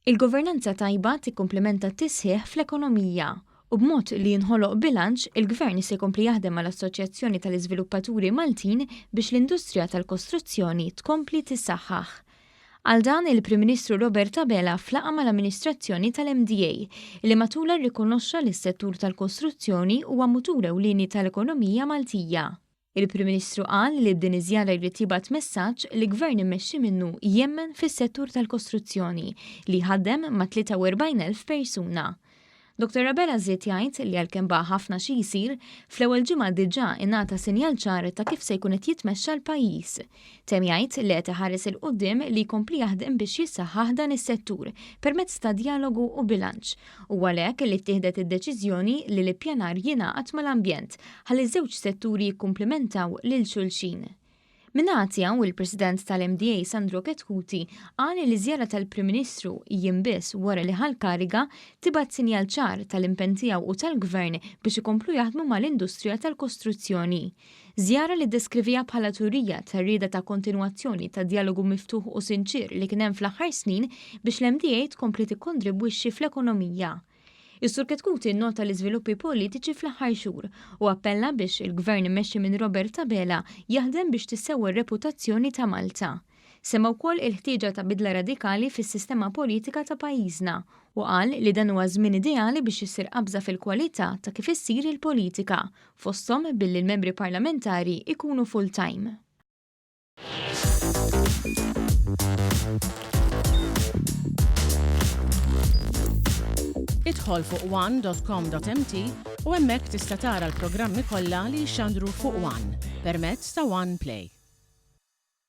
Il-governanza tajba tikkumplimenta t-tisħiħ fl-ekonomija, u b'mod li jinħoloq bilanċ, il-Gvern se jkompli jaħdem mal-Assoċjazzjoni tal-Iżviluppaturi Maltin biex l-industrija tal-kostruzzjoni tkompli tissaħħaħ. Għal dan, il-Prim Ministru Robert Abela f'laqgħa mal-amministrazzjoni tal-MDA, li matulha rrikonoxxa li s-settur tal-kostruzzjoni huwa mutur ewlieni tal-ekonomija Maltija. Il-Prim Ministru qal li b'din iż-żjara jrid jibgħat messaġġ li gvern immexxi minnu jemmen fis-settur tal-kostruzzjoni li jħaddem ma' 43,000 persuna. Dr Abela żied jgħid li għalkemm baqa' ħafna xi jsir, fl-ewwel ġimgħa diġà ingħata sinjal ċar ta' kif se jkun qed jitmexxa l-pajjiż. Temm jgħid li qed iħares 'il quddiem li jkompli jaħdem biex jissaħħaħ dan is-settur permezz ta' djalogu u bilanċ u għalhekk li ttieħdet id-deċiżjoni li l-ippjanar jingħaqad mal-ambjent ħalli ż-żewġ setturi jikkumplimentaw lil xulxin. Min-naħa tiegħu, il-President tal-MDA Sandro Chetcuti qal li ż-żjara tal-Prim Ministru, jiem biss wara li ħa l-kariga, tibgħat sinjal ċar tal-impenn tiegħu u tal-Gvern biex ikomplu jaħdmu mal-industrija tal-kostruzzjoni. Żjara li ddeskriviha bħala turija tar-rieda ta' kontinwazzjoni tad-djalogu miftuħ u sinċier li kien hemm fl-aħħar snin biex l-MDA tkompli tikkontribwixxi fl-ekonomija. Is-Sur Chetcuti nnota l-iżviluppi politiċi fl-aħħar xhur u appella biex il-Gvern immexxi minn Robert Abela jaħdem biex tissewwa r-reputazzjoni ta' Malta. Semma wkoll il-ħtieġa ta' bidla radikali fis-sistema politika ta' pajjiżna u qal li dan huwa żmien ideali biex issir qabża fil-kwalità ta' kif issir il-politika, fosthom billi l-membri parlamentari jkunu full-time. Idħol fuq one dot com dot mt u hemmhekk tista' tara l-programmi kollha li jixxandru fuq one permezz ta' one play.